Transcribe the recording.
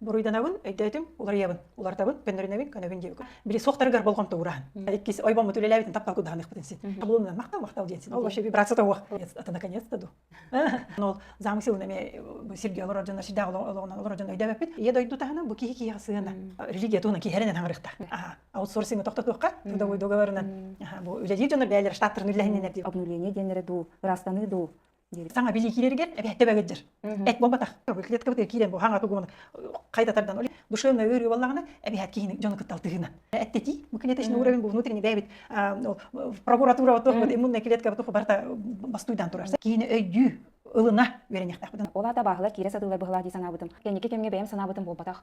Буруйданабын, өйдөөтүм, уларыйабын, уларытабын, көннөрүнэбин, көнөбүн диэбиккин. Били суохтарыгар болҕомто уураһын. Иккис ойбоммут үлэлээбитин таптал кудаһаныахпытын син. Табылымынан махтал, махтал диэн син. Ол вообще вибрация тоҕуох. Ата наконец-то ду. Ол замык сылын эмиэ сиргэ олорор дьоннор сирдээх олоҕунан олорор дьон өйдөөбөппүт. Ийэ дойду таһынан бу киһи киһиэхэ сыһыана религия туһунан киһэрэнэн хаҥырыахтаах. Аха. Аутсорсинг тохтотуохха, трудовой договорынан. Бу үлэлиир дьоннор бэйэлэрэ штаттарын үллэһиннинэр дии. Обнуление диэннэрэ дуу, ырастаныы дуу саҥа билии киирэригэр эбээттэ бөгөддер эт буолбатах клетка бытыгар киирэн бу хаҥата гуона хайдатардан ол душевная өрүү боллагана эбээт киһини дьону кытта алтыһына эттети мы конечно уровень был внутренний бэбит прокуратура вот иммунная клетка вот барыта бастуйдан турар киһини өйдүү ылына үөрэннэхтэхпитин ол ата баахыла киирэ сатыылар быһылаа дии санаабытым кэнники кэмҥэ бэйэм санаабытым буолбатах